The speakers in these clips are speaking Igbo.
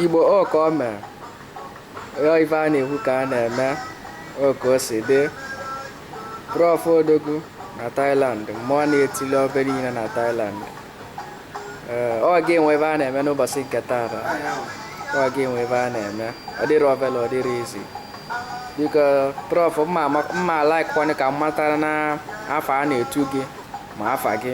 Igbo ọ kaa o mee ife a na-ekwu ka a na-eme o ka o si dị Prof Odogwu na Thailand mmụọ na-etili ọbe niile na Thailand ee ọ ga-enwe ife a na-eme n'ụbọsị nke taata ọ ga-enwe ife a na-eme ọ dịrị ovele ọ dịrị easy biko Prof m ma-alike kwanụ ka m matara na afa a na-etu gị ma afa gị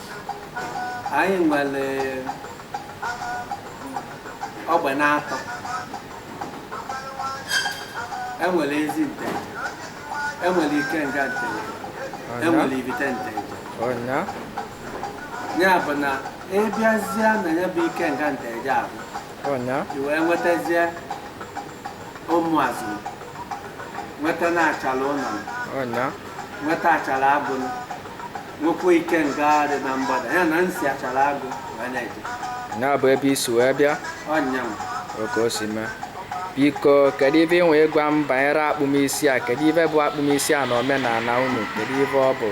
anyị nwere ogbe na-atọ enwere Ezi Nteje enwere Ikenga Nteje enwere Ivite Nteje ọ nya ya bụ na ịbịazie na ya bụ Ikenga Nteje avụ ọ nya i wee nwetazie Ụmụazụ nweta na Achala Ụlọ ọ nya nweta Achala Agụ Nwekwa Ikenga dị na mgbada ya na-esi Achala Agụ wee na-eje. Nya bụ ebe i si wee bịa Ọnyanwụ. ọ ka o si mee biko kedu ife ị nwee gwa m banyere akpụm isi a kedu ife bụ akpụm isi a na omenala unu kedu ife ọ bụ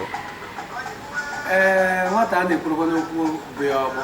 Ee, nwata a na-ekwurukwa n'okwu bụ ya ọgbọ.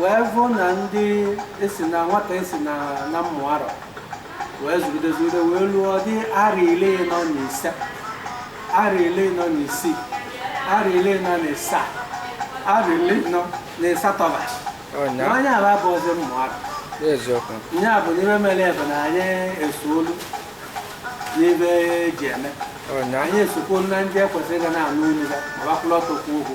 wee vụ na ndị esi na nwata esi na na mmụ arọ wee zụgide zụgide wee luo dị arọ ili na ise arọ ili na isii arọ ili na ịsaa arọ ili na ịsatọ ba na onye ala bụ ọzọ mmụ arọ eziokwu ihe a bụ n'ime mere ebe na anyị esolu n'ife eji eme ọ nya anyị esokwu na ndị ekwesịrị ga na-anụ olu ya ma va kwụrụ ọtọ kwuo okwu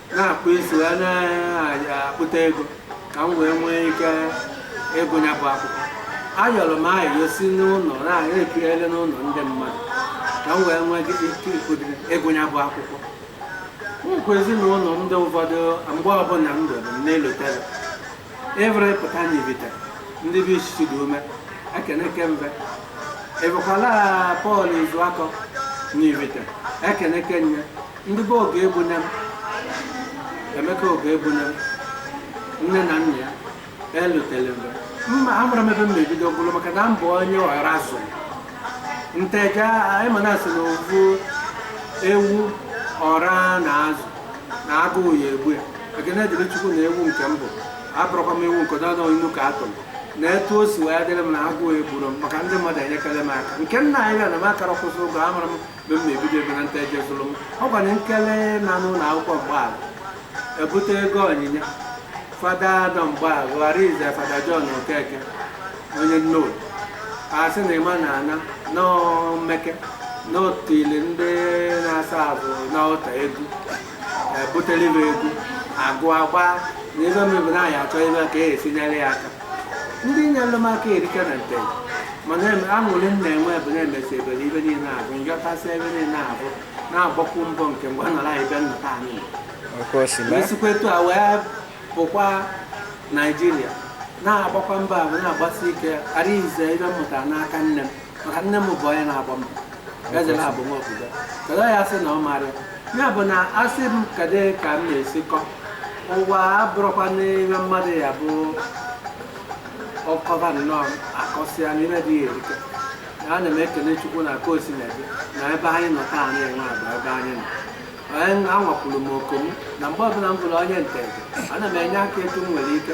na-akpụ isi ya na-akpụta ego ka m wee nwee ike ịgụ ya bụ akwụkwọ ayọrọ m ayọ si n'ụlọ na-ekirele n'ụlọ ndị mmadụ ka m wee nwee ike ịgụ ya bụ akwụkwọ nkwa ezinụlọ ndị ụfọdụ mgbe ọbụla m doro m na-elotara ịvụrụ ịpụta n'Ivite ndị be isi dị ume ekene kembe ịbụkwala Pọl Izuakọ n'Ivite ekene kenye ndị be Ọgụegbunem Emeka Ọgụegbunem nne na nna ya elotere m mgbe m na-amarọ ebe m ga-ebido gwụrụ maka na m bụ onye ọra zụ Nteje anyị ma na-asị na ọ vụ ewu ọra na-azụ na agụụ ya egbu ya ekene dịrị Chukwu na ewu nke m bụ abụrọkwa m ewu nke dọdọ inu ka atụrụ na etu o si wee dịrị m na agụụ egburọ m maka ndị mmadụ enyekara m aka nke nna anyị bịa na m akara kwụsị ụgwọ amarọ m ebe m ga-ebido ebe na Nteje zụrụ m ọ gwara nkele na n'ụlọ akwụkwọ mgbaala ebute ego onyinye fada nọ mgbaala Arize Fada John Okeke onye Nnobi asị na ịma na ana n'omeke n'otili ndị na-aserve n'altar egwu ebutelibe egwu agụ agba na ebe mebere anyị achọ ebe ka e si nyere ya aka ndị nyere m aka erika na nte mana aṅụrị m na-enwe bụ na-emesi ebere ibe niile abụ njọtasị ebe niile abụ na-agbakwu mbọ nke mgbe nọrọ anyị be nnọta anyị nọ. Nke o si mee. esikwa etu a wee pụkwa naijiria na-agbakwa mbọ ahụ na-agbasi ike ara ize ive m mụta n'aka nne m maka nne m bụ onye na-agba mbọ eze na-abụ nwa obodo kedu ya sị na ọ mara ya? ya bụ na asị m kedu ka m na-esikọ ụwa abụrụkwa n'ime mmadụ ya bụ akọba nnọọ akọsịa n'ime dị ya erika ana m ekele chukwu na ka o si na-ebe na ebe anyị nọ taa na-enwe agba ebe anyị nọ onye anwakwuru m oku m na mgbe ọbụla m vụrụ onye ntete ana m enye aka etu m nwere ike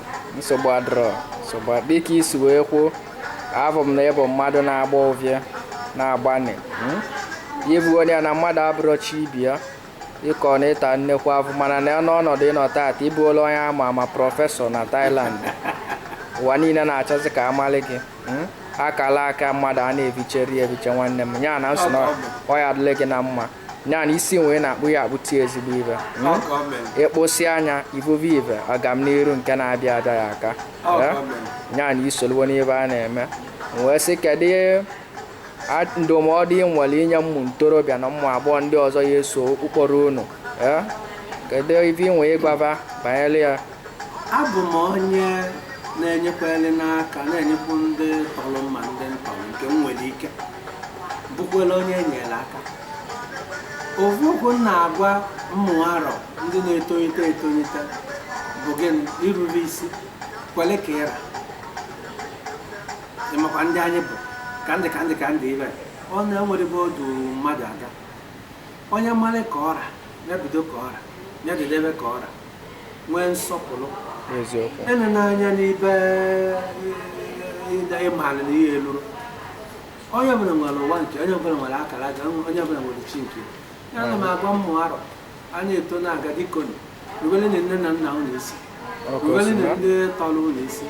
nsogbu adịrọ nsogbu adịrọ. dịka i si wee kwuo avụ m na ị bụ mmadụ na-agba ọvịa na-agbani hmm? ibu onye na mmadụ abụrọ chi ibe ya ị kọ na ị ta nnekwu afụfụ mana na n'ọnọdụ ị nọ taata ị bụola onye ama ama prọfesọ na Thailand ụwa niile na-achọzi ka a malị gị hmm? akala aka mmadụ a na-evicheri eviche nwanne m nya na m sị na ọ ya-adịlị gị na mma nya na i si nwee na-akpụ ya akpụti ezigbo ive ịkpụsị anya ivuve ive agam n'iru nke na-abịa abịa ya aka nya na i soluwo n'ive a na-eme wee sị kedu ndụmọdụ ị nwere inye ụmụ ntorobịa na ụmụ agbọghọ ndị ọzọ ya-eso ụkpụrụ unu kedu ive ị nwee ịgwa va banyere ya abụ m onye na-enyekwere n'aka na-enyekwu ndị tọrọ m ma ndị m tọrọ nke m nwere ike bụkwere onye enyere aka ofu okwu m na-agwa ụmụ arọ ndị na-etolite etolite bụ gịnị irube isi kwere ka ị ra ịmakwa ndị anyị bụ ka ndị ka ndị ka ndị ibe ọ na-enwerọ ebe o du mmadụ aga onye malị ka ọ ra ya bido ka ọ ra ya dịdebe ka ọ ra nwee nsọpụrụ enena anya n'ibe ịmara na ihe eluru onye ọbụla nwere ụwa nke onye ọbụla nwere akara aka onye ọbụla nwere chi nke ya ana m agwa ụmụ arọ a na-eto na-aga bikoni ruberenụ nne na nna unu isi ruberenụ ndị tọrọ unu isi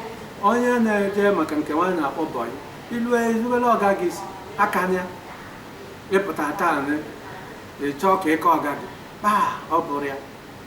onye na-eje maka nke nwa anyị na-akpọ bọyị i rubere ọga gị isi aka ya ị pụta taa ị chọọ ka ị ka ọga gị kpaa ọ bụrụ ya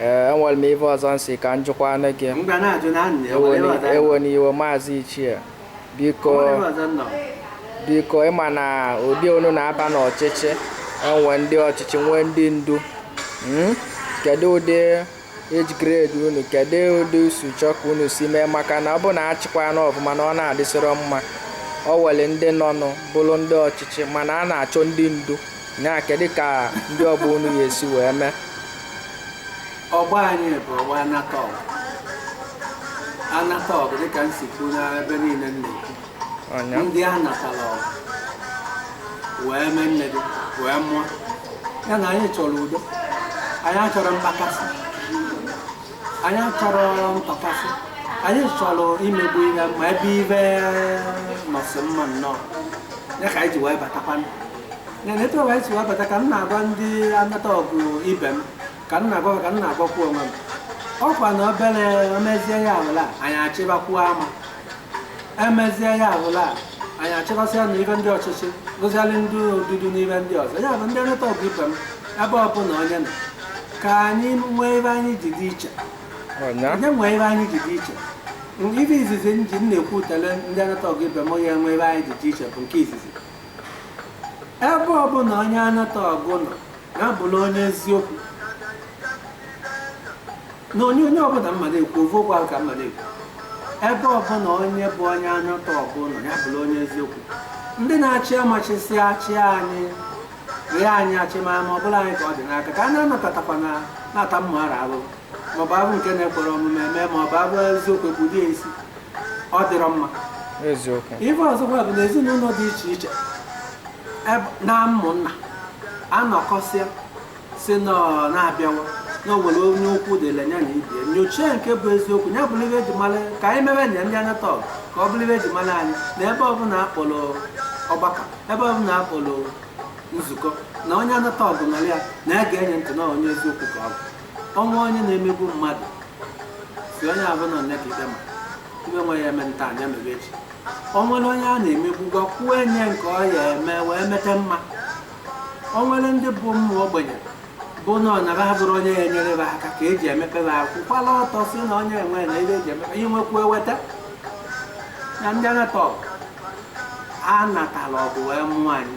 Ee, enwere m ife ọzọ m sị ka m jụkwanụ gị. Ewena iwe maazị Ichie. Biko, biko ị ma na ọgbọ unu na-aba n'ọchịchị e nwe ndị ọchịchị nwee ndị ndu Mm? kedu ụdị age grade unu kedu ụdị i si chọọ ka unu si mee maka na ọ bụ na a chịkwaa ana ọfụma na ọ na-adịsịrị mma o nwere ndị nọnụ bụrụ ndị ọchịchị mana a na-achọ ndị ndu nya kedu ka ndị ọgbọ unu ga-esi wee mee ọgbọ anyị bụ ọgbọ anata ọgụ anata ọgụ dịka m si kwuo n'ebe niile m na-ekwu nya ndị a natara ọgụ wee mee nne gị wee mụọ ya na anyị chọrọ udo anyị achọrọ mkpakasị anyị achọrọ ntọkasị anyị chọrọ imegbu ihe ma ebe ibe nọsị mma nnọọ ya ka anyị ji wee batakwanụ na etu ọwa anyị si wee bata ka m na-agwa ndị anata ọgụ ibe m ka m na-agwa ka m na-agwakwu onwe m ọkwa na obere emezie ya abụla anyị achịbakwuo ama emezie ya abụla anyị achịbasịa na ibe ndị ọchịchị bụzialị ndị odudu n'ibe ndị ọzọ ya bụ ndị anata ọgụ ibe m ebe ọbụla onye nọ ka anyị nwee ebe anyị ji dị iche onye nwee ebe anyị ji dị iche ibe izizi m ji m na-ekwutele ndị anata ọgụ ibe m onye nwee ebe anyị ji dị iche bụ nke izizi ebe ọbụla onye anata ọgụ nọ ya bụrụ onye eziokwu na onye onye ọbụla mmadụ ekwu ovu okwu ahụ ka mmadụ ekwu ebe ọbụla onye bụ onye anata ọgụ nọ ya bụrụ onye eziokwu ndị na-achị amachisi achị anyị rịa anyị achịma ma ọ bụla anyị ka ọ dị n'aka ka a na-anatatakwa na na-ata mma ara ahụhụ maọbụ abụ nke na-ekwere omume eme maọbụ abụ eziokwu egbudie isi ọ dịrọ mma ife ọzọkwa bụ na ezinụlọ dị iche iche na ụmụnna anọkọsịa si na-abịawa na o nwere onye okwu dịlị ya na ibie nyochie nke bụ eziokwu ya bụrụ ibe eji mala ka anyị mewe nya ndị anata ọgụ ka ọ bụrụ ibe eji mala anyị na ebe ọbụla akpọrọ ọgbakọ ebe ọbụla akpọrọ nzukọ na onye anata ọgụ nọrọ ya na ya ga-enye ntị na onye eziokwu ka ọ bụ o nwee onye na-emegbu mmadụ sị onye ahụ nọ nne ka ikpe ma ibe nwe ya eme ntaa nya mere echi o nwere onye a na-emegbu gwakwuo onye nke ọ ya eme wee mete mma o nwere ndị bụ ụmụ ogbenye bụ na ọ nara abụrụ onye ya enyere ha aka ka eji emepere ha kwụkwala ọtọ si na onye enwe na ebe eji emepe ihe nwekwu eweta na ndị anata ọgụ a natara ọgụ wee mụọ anyị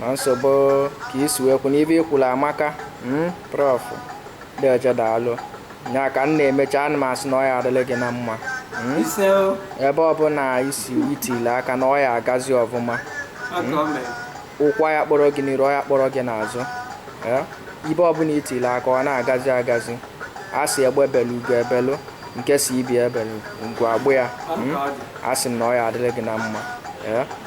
na nsogbu ka i si wee kwu n'ibe i kwuru amaka hmm, prof deeje daalụ ya ka m na-emecha ana m asị na ọ ya adịlị gị na mma hmm? ebe ọbụla isi itile aka na ọ ya agazi ọfụma hmm? ụkwa ya kpọrọ gị n'iru ọ ya kpọrọ gị n'azụ eh? ibe ọbụla itile aka ọ na-agazi agazi a sị egbe ebelu ugo ebelu nke si ibie ebelu ngwa agbụ ya a sị m na ọ ya adịlị gị na mma eh?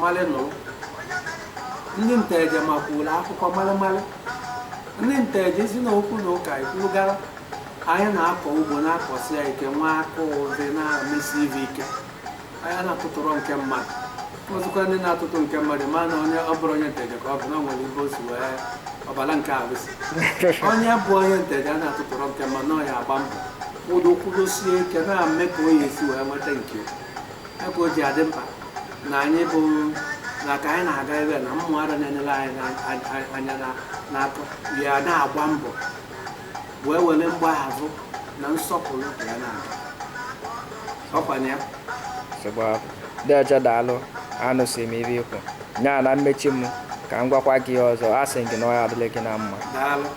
malị nụ ndị nteje makwuola akụkọ malịmalị ndị nteje si na okwu na ụka ikwulugara anyị na-akọ ugbo na-akọsi ya ike nwa aka ụdị na-emesi ive ike anyị na-atụtụrụ nke mmadụ ọzọkwa ndị na-atụtụ nke mmadụ ma na onye ọ bụrụ onye nteje ka ọ bụ na o nwere ibe o si wee ọbara nke arụsị onye bụ onye nteje a na-atụtụrụ nke mmadụ na ọ ya agba mbọ kwudo kwudosie ike na-eme ka o ya esi wee nweta nke ebe o ji adị mkpa na anyị bụ na ka anyị na-aga ebe na mmụọ ara na-enyere anyị anya n'aka ya na-agba mbọ wee were mgbahazụ na nsọpụrụ ya na-aga ọkwanye ya deeje daalụ anụsị m ive i kwu nya na mmechi m ka m gwakwa gị ọzọ asị m gị na ọ ya-adịlị gị na mma